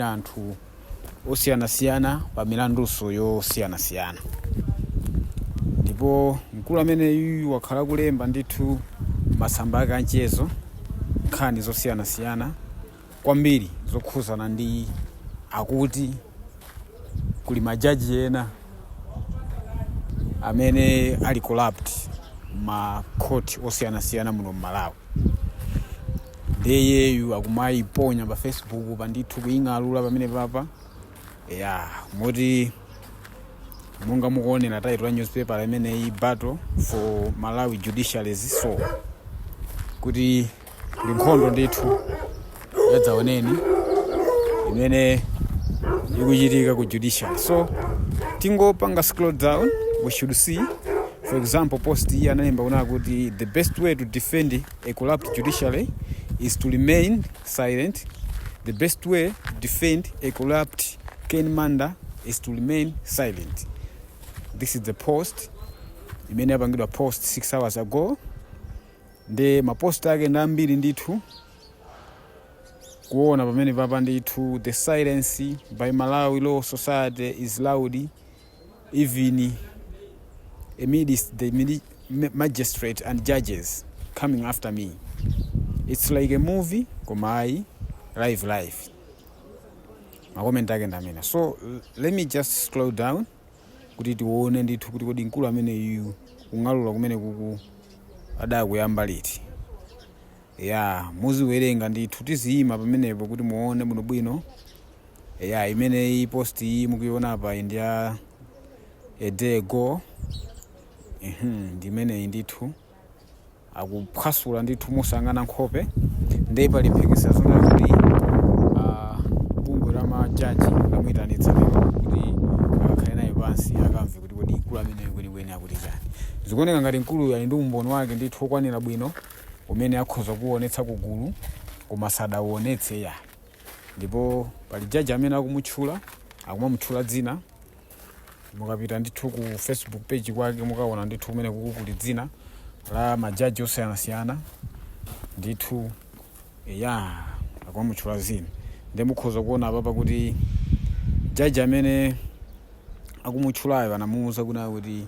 ya anthu osiyanasiyana pa milandunso yosiyanasiyana ndipo mkulu ameneyu wakhala kulemba ndithu masamba ake anchezo nkhani zosiyanasiyana kwambiri zokhuzana ndi akuti kuli majaji ena amene ali corrupt makhoti osiyanasiyana muno mmalawi nde iyeyu akumayiponya pa facebook pa ndithu kuying'alula pamene papa ya moti monga mukuonera title ya newspaper imeneyi battle for malawi judiciary's soul kuti ndi nkhondo ndithu yadzaoneni imene ikuchitika ku judiciary so tingopanga scroll down we should see for example post iyi analemba kuna kuti the best way to defend A corrupt judiciary is to remain silent, the best way to defend a corrupt Ken Manda is to remain silent. This is the post imene yapangidwa post 6 hours ago ndi mapost ake ndi ambiri ndithu kuona pamene papa ndithu the silence by malawi law society is loud even amidst the mili- ma- magistrate and judges coming after me its like a movie koma ayi live life makomenti ake ndamena so let me just slow down kuti tione ndithu kuti kodi mkulu ameneyu kung'alura kumene kuku adakuyamba liti Eya, muziwerenga ndithu, tiziyima pamenepo kuti muone bwinobwino. Eya, imeneyi post iyi mukuiona apa iyi ndi ya a day ago. Mhm, ndi imeneyi ndithu akuphwasula ndithu mosayang'ana nkhope ndiye pali mphekesera zonena kuti ah, bungwe la majaji lamuyitanitsa lero kuti akakhale naye pansi akamve kuti kodi mkulu ameneyu kwenikweni akuti chani. Zikuoneka ngati mkuluyu ali ndi umboni wake ndithu wokwanira bwino umene akhoza kuwuonetsa ku gulu koma sadawuonetse ya ndipo pali jaji amene akumutchula akumamutchula dzina mukapita ndithu ku facebook page kwake mukaona ndithu kumeneku kuli dzina la majaji osiyanasiyana ndithu ya akumamutchula dzina ndiye mukhoza kuona apapa kuti jaji amene akumutchulayo anamuwuza kuna kuti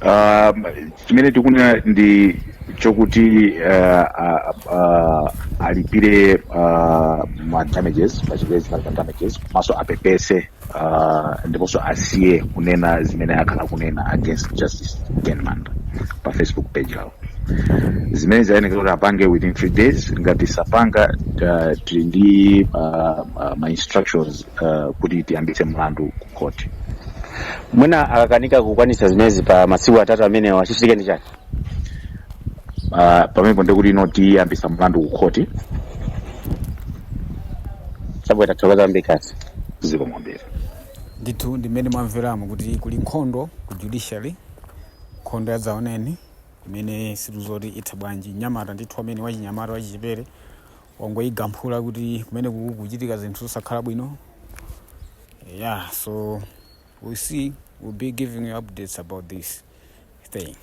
Ah, chimene tikunena ndi chokuti ah, ah, ah, alipire ah, ma damages pa Chingerezi timati ma damages komanso apepese ah, ndiponso asiye kunena zimene akhala kunena against justice ken manda pa facebook page yawo zimene zikuyenekera kuti apange within three days ngati sapanga ah, tili ndi ah, ah, ma instructions uh, kuti tiyambitse mlandu ku khoti mwina akakanika kukwanitsa zimenezi pa masiku atatu amenewa chichitike ndi chani uh, pamenepo ndiye kuti ife tiyambitsa mlandu ku khoti chabwino tathokoza Mr Kaphale zikomo kwambiri ndithu ndi mmene mwamveramo kuti kuli nkhondo ku judiciary nkhondo ya dzaoneni imene sitidziwa kuti itha bwanji nyamata ndithu amene wachinyamata wachichepere wangoigamphula kuti kumene kukuchitika zinthu zosakhala bwino yeah so we see we'll be giving you updates about this thing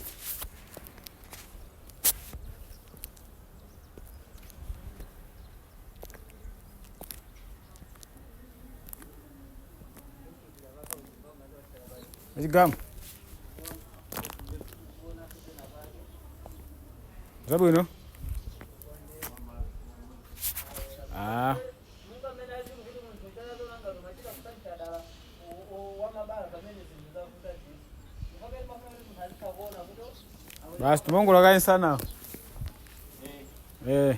a Chigama zabwino ah. basi timangola kaye sana eh.